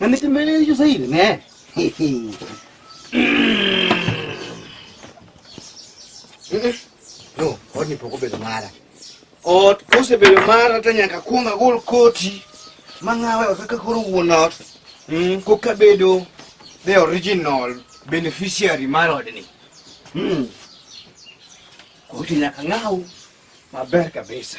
Nandito ba yung sa iyo na? No, oni poko bedo mara. Ot kose bedo mara tanya kakunga gol koti. Mangawe okaka kuru wonot. Mm, koka bedo the original beneficiary mar odni. Mm. Koti nyaka ng'aw maber kabisa.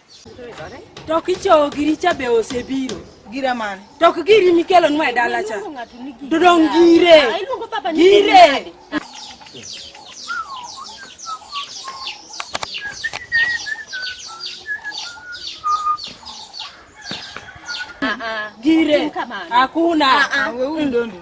To kichowo giri cha be osebiro. Gira mane? To ok giri mikelo nwa e dala cha. To dong gire. Ah, gire. Ah, ah. Gire. Hakuna. Wewe ndio ndio.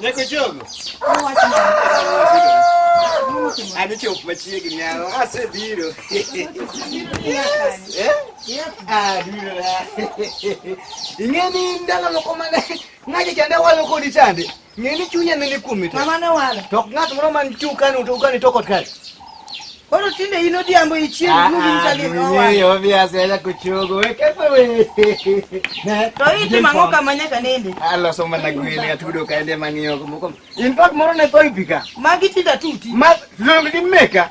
Neko jogo. Ani chop machiegni yawo. Asebiro. Ing'eni ndalo moko mane ng'aje chande walo kodi chande. Ng'eni chunya nini kuom ite? Mama ne wala. Tok ng'at moro man chu kan uto kan ito kot kan. Koro tinde in odhiambo ichien ah, nugi msali ah, owa. Ni obi asela kuchogo we kepo we. To iti mango kama nyaka nende. Alo so mana gwele atudo kaende mangiyo kumoko. In fact moro ne toy pika. Magi tinda tuti. Ma long di meka.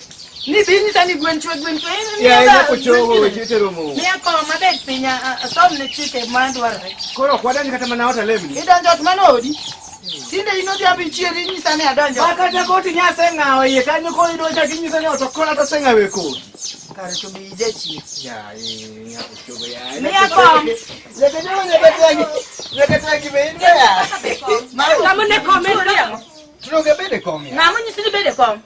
Ni bini sa ni gwen chwe gwen chwe ni ya ya ko chogo we jete romo. Ni ya ko ma bet pinya som ne chike ma dwarre. Koro kwada ni kata mana ota lemni. Ni donjo to mana odi. Tinde ino dia bi chieri ni sa ne adonjo. Ba kata ko ti nya senga o ye kanyo ko ido cha kinyi sa ne oto kola ta senga we ko. Kare to bi je chi. Ya ni ya ko chogo ya. Ni ya ko. Le ke no le ke tangi. Le ke tangi be ni ya. Ma ka mo ne ko me. Tuno ke be de ko. Na mo ni si be de ko.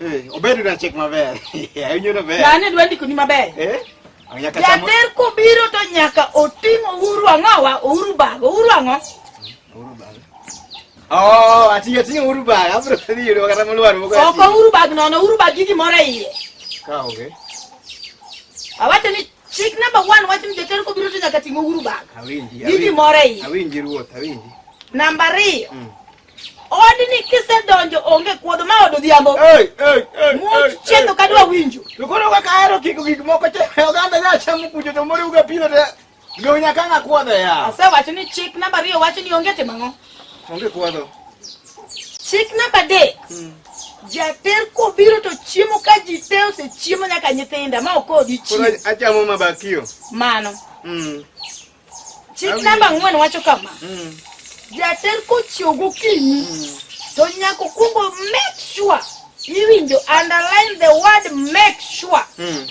Eh, obedo na chek maber. Awinjo na ber. Lane dwa ndiko ni maber. Eh? Jater kobiro to nyaka oting' Uhuru ang'owa, Uhuru bago, Uhuru ang'o? Uhuru bago. Oh, ati atinyo Uhuru bago, abro ni yudo kata molwar moko. Ok Uhuru bago nono, Uhuru bago gigi moro e iye. Ka onge. Awacho ni chik number 1 wacho ni jater kobiro to nyaka ting' Uhuru bago. Awinji. Gigi moro e iye. Awinji ruoth, awinji. Namba 2. Mm. Odni kisedonjo onge kuodho ma od odhiambo. Hey, hey, hey. Much chetho ka dwa winjo. To koro kaka ahero kiko gik moko che oganda nya chamo kucho to moriw ga pino te. Lo nya kanga kuodho ya. Asewacho ni chik namba ariyo wacho ni onge timo ang'o? Onge kuodho. Chik namba adek. Hmm. Jater kobiro to chiemo ka ji te osechiemo nyaka nyithinda ma ok odichiemo. Koro achamo mabakio. Mano. Mm. Chik namba ang'wen wacho kama. Mm. Jater kochiew gokinyi mm. to nyaka okwongo make sure iwinjo underline the word make sure mm.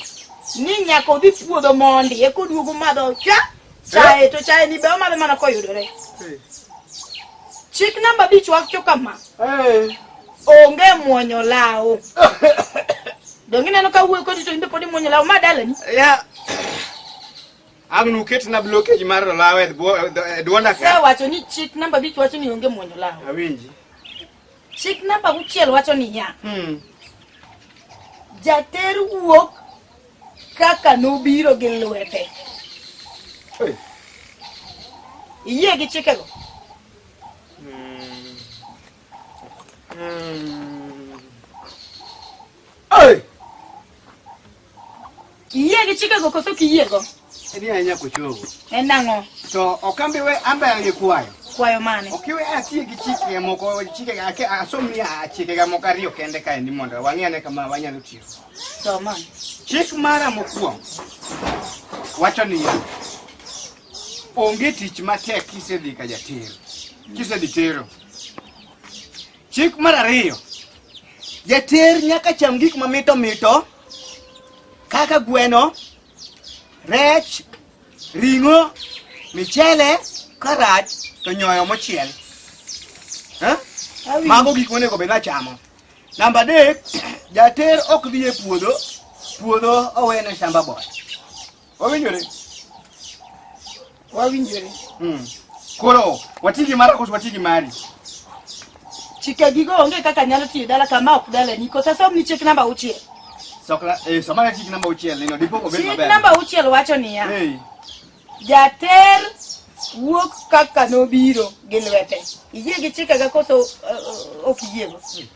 ni nyaka odhi puodho mondi eka oduogo madho cha chae eh? to chae ni be omadho mana koyudore. Eh. Chik namba abich wacho kama. Eh. Onge mwonyo lawo. Donge ineno ka wuoyi kodi to in be pod imwonyo lawo ma dalani? Yeah. Ang' nuket na blockage mar lawe e dwonda ka. Wacho ni chik namba bich wacho ni onge mwonyo lawe. Awinji. Chik namba uchiel wacho ni ya. Hmm. Jater wuok kaka nobiro gi lwete. Hey. Iyie gi chikego? Hmm. Hmm. Hey! Kiyie gi chikego koso kiyiego? Edi ahinya kochogo. En nang'o? To okambi we ambayo gi kwayo. Kwayo mane? Ok iwe atiye gi chike moko chike ake asomni chike ga moko ariyo kende kae ni mondo wang'e kama wanyalo tiyo. Soma. Chik mara mokwongo wacho niya onge tich matek kisedhi ka jatero kisedhi tero. Chik mar ariyo Jater nyaka cham gik ma mito mito kaka gweno, rech, ring'o, michele, karaj to nyoyo mochiel. Eh? Mago gik monego bed nachamo. Namba adek, jater ok dhi e puodho, puodho owene shamba boy. Wawinjore. Wawinjore. Mm. Koro wati gi mara koso wati gi mari. Chike gigo onge kaka nyalo tiyo dala kama ok dala ni kosa som ni chik namba uchiel. Sokla eh somara chik namba uchiel nino dipo ko bet maber. Chik namba uchiel wacho niya. Hey. Jater wuok kaka nobiro gi lwete. Iyie gi chike ga koso uh, uh, ok iyiego. Hmm.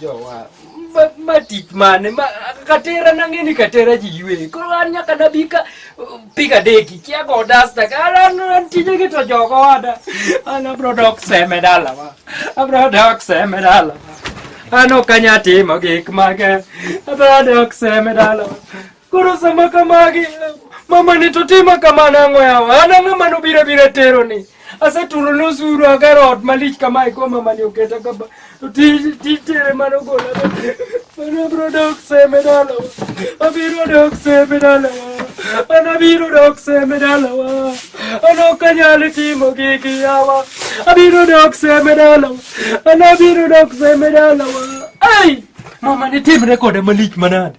jowa ma tich mane katera nang'e ni katera ji ywe koro an nyaka nabi ka uh, piga deki kia go dasta an tije gi to jogo wada an abro dok seme dalawa abro dok seme dalawa an ok anyatimo gik mage abro dok seme dalawa Koro sama kamagi mama ni to tima kamano ang'o yawa an ang'ama nobira bira tero ni asetulo nosuru agero ot malich kamae ko mama ni oketa kaba to tij tij tere mano gola mano bro dok seme dala abiro dok seme dala an abiro dok seme dala an ok anyal timo gigi yawa abiro dok seme dala an abiro dok seme dala ai mama ni timre kode malich manade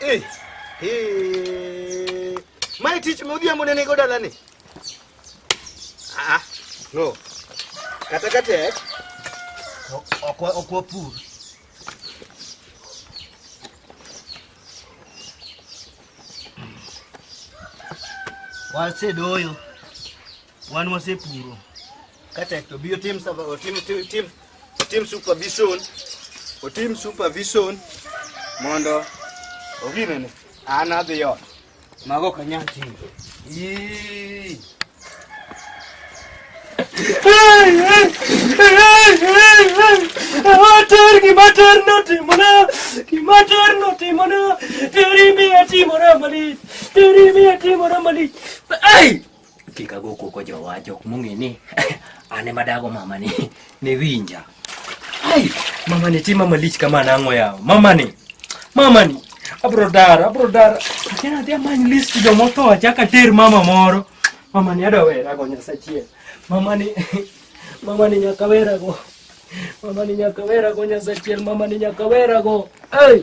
Eh. Eh. Mai tich me odhiambo nene go dalani. Ah. No. Kata katek. Ok ok wapur. Wasedoyo. Wan wasepuro kata to biyo tim tim tim tim otim supervision otim supervision mondo oginene an adhi ot mago ok anyal timo Mater, gimater notimona, gimater notimona, teri miya timora malich, teri miya timora malich. Ai! kik ago koko jowa jok mong'e ni an ema dago mamani ne winja ai mamani ti mama lich kama nang'o yawo mamani mamani abro dar abro dar achana adhi amany list jomotho achaka ter mama moro mamani adwa werago nyasachiel mamani mamani nyaka werago mamani nyaka werago nyasachiel mamani nyaka werago ai hey!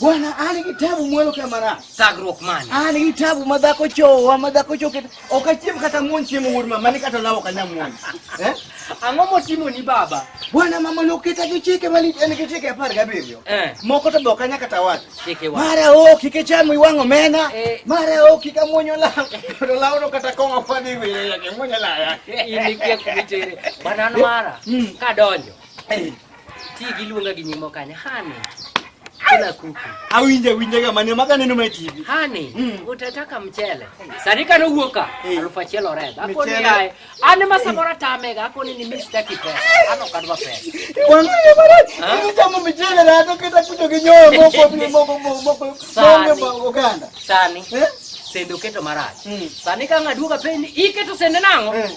Bwana ali kitabu mwelo kamara sagrok man ali kitabu madhako chowa madhako choke okachiem kata muon chiemo wuod mama ni kata lawo kanya muon eh ang'o motimo ni baba bwana mama noketa gi chike mali en gi chike apar gabiriyo eh. moko to bokanya kata wach chike wa mara o kike chamo iwang'o mena eh. mara o kika muonyo la to lawo no kata kong'o fadi wiye yake muonyo la ya ini kia kumitere bwana mara mm. kadonjo eh. Ti giluonga gi nyimo kanye? Hani. Kila kuku. Awinja winja ga mane maga neno mai TV. Hani, mm. utataka mchele. Sarika no huoka. Hey. Eh. Alufa chelo red. Hapo ni hai. Ani masabora tamega, hapo ni nimista kipe. Ano kadwa pe. Wangu ni mara. Ni jamu mchele na hapo kita kujo kinyo moko ni moko moko moko. Sani. Uganda. Sani. Eh? Sendo keto marachi. Mm. Sani kanga duka pe ni iketo sende nango. Mm.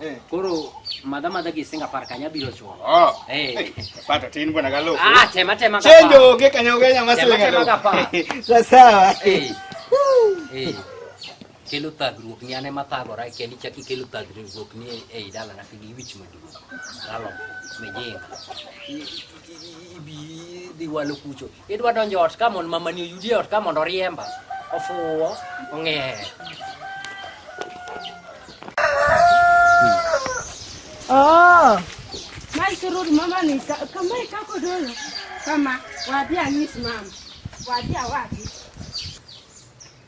Eh. Koro madha madha gi singa par kanya biro chuo. Oh. Eh. Pato tin bwana galo. Ah, tema tema ka. Chenjo ge kanya ge nyama sile galo. Tema ka. Sawa sawa. Eh. Eh. Kelo tagruok ni ane mathagora kendi chak ikelo tagruok ni ei dala na kigi wich maduong'. Lalo mejenga. Ibi dhi walo kucho. Idwa donjo ot ka mondo mamani oyudi e ot ka mondo oriemba. Ofuwo, ong'er. Oh. Mai sururi mama ni ka- kama ikako dolo. Kama wadia ng'is mama. Wadia wapi?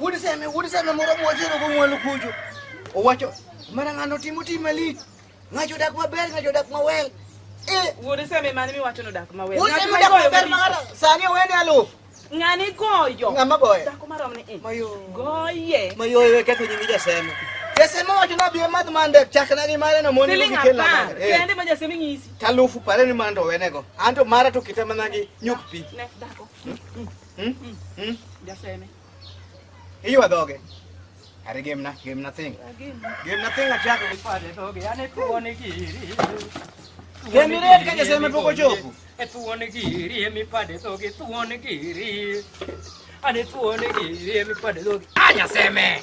Wuod Seme, wuod Seme moro mwachero go mwelu kucho. Owacho, mana ng'ano timo tim malich. Ng'acho dak maber, ng'acho dak mawel. Eh, wuod Seme mane miwacho no dak mawel. Wuod Seme dak maber mara. Sani owene alufu. Ng'ani goyo. Ng'ama goyo. Dako marom ni. Eh. Mayo. Goye. Mayo ye ketho nyingi jaseme. Jaseme wacho na biye madh mande chakna gi mare no moni gi kela. Eh. Kende ma jaseme ng'isi. Talufu pare ni mando wenego. Anto mara to kita mana gi nyuk pi. Ne dako. Hmm? Hmm? Hmm? Jaseme. Hiyo adoge. Are game na game nothing. Game nothing achako kufanya doge. Yaani tuone kiri. Game red kaje sema poko chopu. E tuone kiri emi pade doge tuone kiri. Ane tuone kiri emi pade doge. Anya seme.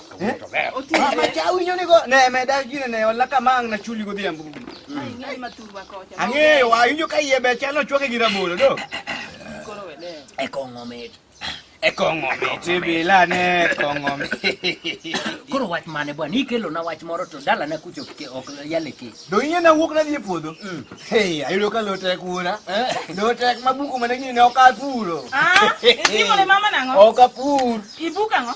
Ang'eyo wa injo ka iye be chalo chwake gi rabolo do. E kong'o mit. E kong'o mit bila ne kong'o mit. Koro wach mane bwana ikelo na wach moro to dala na kucho ke ok yale ke. Do inye na wuok na dhi e puodho. Mm. Hey, ayudo ka lo tek wuora. Eh? Lo tek mabuku mane gini ne ok apuro. Ah, itimo ne mama nang'o? Ok apur. Ibuka ng'o?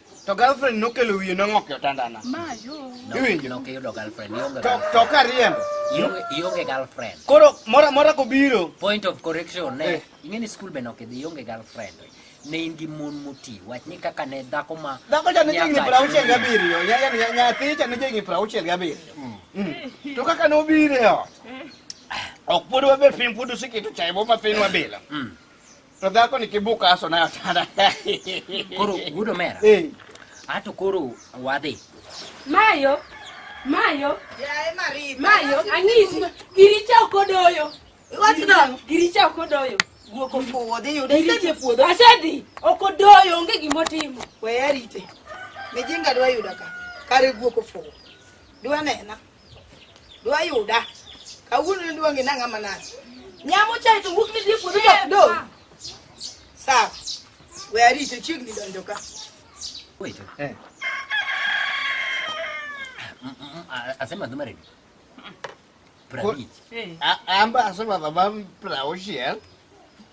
To girlfriend nokelo wiye nong'ok e otandana. Iwinjo? Nok iyudo girlfriend, ionge To girlfriend. to ka riembo. Ionge- Ionge girlfriend. Koro mora mora kobiro. Point of correction, ne, Eh. ing'e ni school be nok idhi ionge girlfriend. Ne in gi mon moti, wach ni kaka ne dhako ma... Dhako cha ne jigni nyaka prauchiel chunyi. gabiriyo. Ya- ya- ya- Nyathi cha ne jigni prauchiel gabiriyo. Mm. To kaka nobiro e ot. Ok pod wabet piny pod useketo chae moma piny wabilo. Mm. To dhako ni kibuka aso na sana. Koro gudo mera. Eh. Ato koro wadhi. Mayo. Mayo. Yae Marie. Mayo ang'isi giricha okodoyo. Wach dong. Giricha okodoyo. Guok ofuwo dhi yudo. Giricha puodho. Asedhi okodoyo onge gimotimo. Weya rite. Mijinga dwa yuda ka. Kare guok ofuwo. Dwa nena. Dwa yuda. Kawuono ne dwa ng'ina ng'ama nani. Nyamo chai to wuok ni dhi puodho to do. Sawa. We arito chiegni donjo ka. Wait. Eh. Mm, mm, mm, asema dhumare. Pra eh. Amba asema dhumare pra oshia.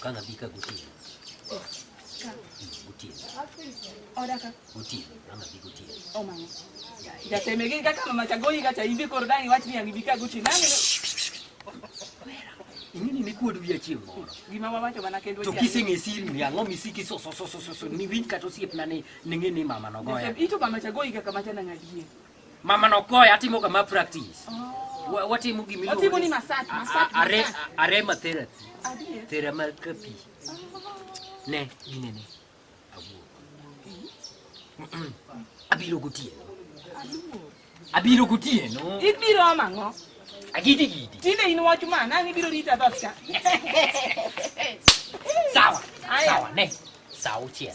Kanga bika gutie. Gutie. Oda ka. Gutie. Kanga bika gutie. Oh mama. Jasemegin kaka mama chagoi kacha hivi korodani watu ni angibika gutie. Nani? Ingini ni kuodu ya chieng' moro. Gima wawacho mana kendo to kiseng'e siri ni ang'o misiki so so so so so ni winj kata osiep na ni ng'e ni mama nogoya. Ito mama chagoi kaka machana ng'adie. Mama no koy atimo ga ma practice. Wa- Watimo gimi Watimo ni massage, massage, Are massage. arema therapy. Adier. Thermal copy. Ne, gine ne. Awuo. Abiro gotieno. Abiro gotieno. Ibiro ama ang'o? Agidi gidi. Tinde in wach ma nang' ibiro rita dhot ka. Sawa. Aya. Sawa ne. Sawa uchiel.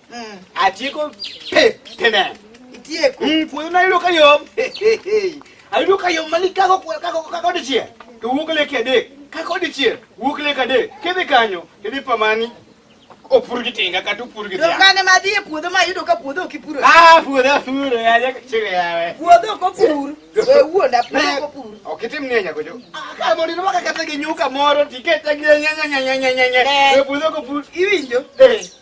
mm. atiko pe pena itieko mm puodho na yudo kayom ayudo kayom mani kako kako kako dichiel to wuok leke adek kako dichiel wuok leke adek kidhi kanyo kidhi pamani opur gi tinga kata opur gi tinga. Ngane ma dhie puodho ma yudo ka puodho ok ipuro. Ah, puodho puro ya ja chire yawe. Puodho ko pur. We wuonda puodho ko pur. Ok itim ne nyako jo. Ah, ka mori no ka kata gi nyuka moro tikete gi nya nya nya nya nya nya. We puodho ko pur. Iwinjo? Eh.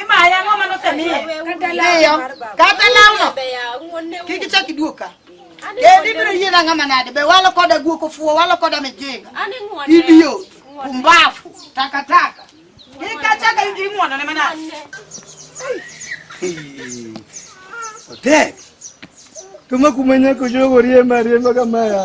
Imaya ng'o mano semiye? Miyo. Kata lawno. Kik ichak iduog ka. Kendi biro yie na ng'ama nade? Be walo koda guok ofuwo, walo koda mijinga. Idiot, pumbafu, takataka. Kik achak ing'wonone manade. Otek. Kama kumenya kujogo riemba riemba kama ya.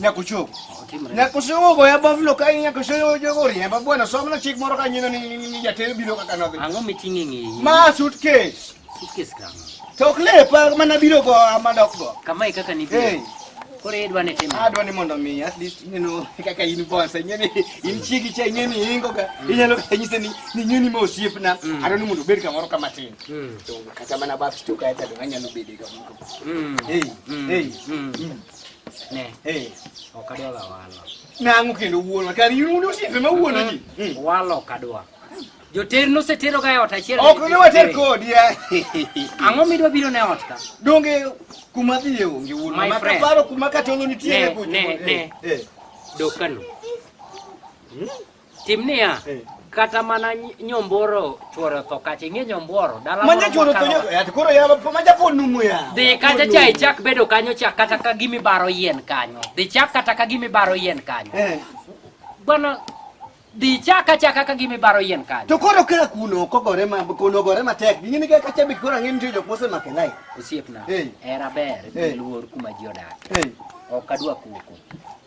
nyakuchuko nyakuchuko ya bavlo ka nyakuchuko jogo riemba bwana somna chik moro ka nyino ni jatelo biro kaka nodhi ang'o miting'o e ng'eyi ma suitcase suitcase kama to ok lepa mana biro go ama dok go kama e kaka nibiro koro idwa ni timo adwa ni mondo mi at least you know kaka in bonsa ing'e ni in chigi cha ing'e ni ingo ga mm. inyalo kata nyise ni ni nyuni ma osiepna mm. adwa ni mondo obed kamoro kama tin mm. to kata mana bab stuka eta do anyalo bede kamoro Mm. Hey. Mm. Hey. Mm. Mm. Ne. Hey. Okadwa la walo. Nangu kendo wuono. Kari yuru osiepe ma wuono ji. Mm. mm. Walo okadwa. Joter nosetero ga e ot achiel. Ok ne water kodi ya. Ang'o midwa biro ne ot ka? Donge kuma dhiye onge wuono. Ma kaparo kuma katolo nitie ne kucho. Ne, ne. Eh. Dokano. Hmm? Tim niya, eh. kata mana nyomboro chuoro tho kacha ing'e nyomboro dala manya chuoro tho yat koro ya manya po numu ya dhi kacha cha ichak bedo kanyo cha kata ka gimi baro yien kanyo dhi chak kata ka gimi baro yien kanyo eh. bwana dhi chak acha kaka gimi baro yien kanyo to koro kera kuno kogore ma kuno gore matek ni ni kaka chabi koro ng'e nitie jok mose make lai osiepna eh. era ber eh. luor kuma ji odak ok adwa kuku